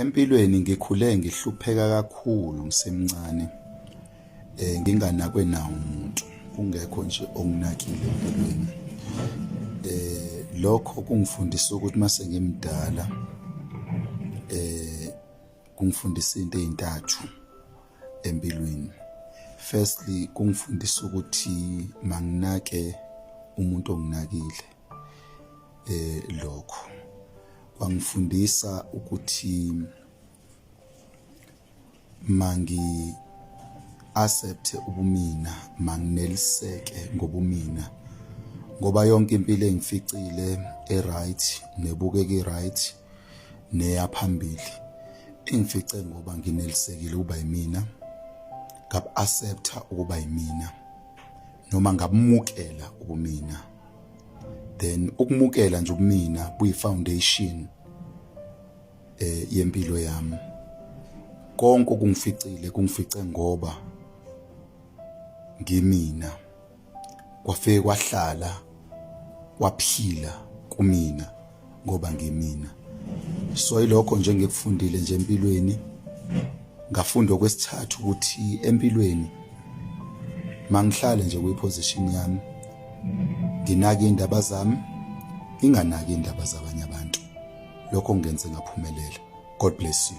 Empilweni ngikhule ngihlupheka kakhulu ngisemncane eh nginganakwe nawo umuntu kungekho nje onginakile empilweni eh lokho kungifundisa ukuthi mase ngimdala eh kungifundisa into ezintathu empilweni firstly kungifundisa ukuthi manginake umuntu onginakile eh lokho kwangifundisa ukuthi mangi accept ubumina mangineliseke ngobumina ngoba yonke impilo engificile eright nebukeki right neyaphambili engifice ngoba nginelisekile uba yimina ngab accepta ukuba yimina noma ngabumukela ubumina then ukumukela nje ubumina kuyi foundation eh yempilo yami konke okungificile kungifice ngoba ngimina kwafike kwahlala kwaphila kumina ngoba ngimina so ilokho nje ngikufundile nje empilweni ngafunda okwesithathu ukuthi empilweni mangihlale nje kwiposition yami nginake indaba zami nginganaki indaba zabanye abantu lokho ngenze ngaphumelela god bless you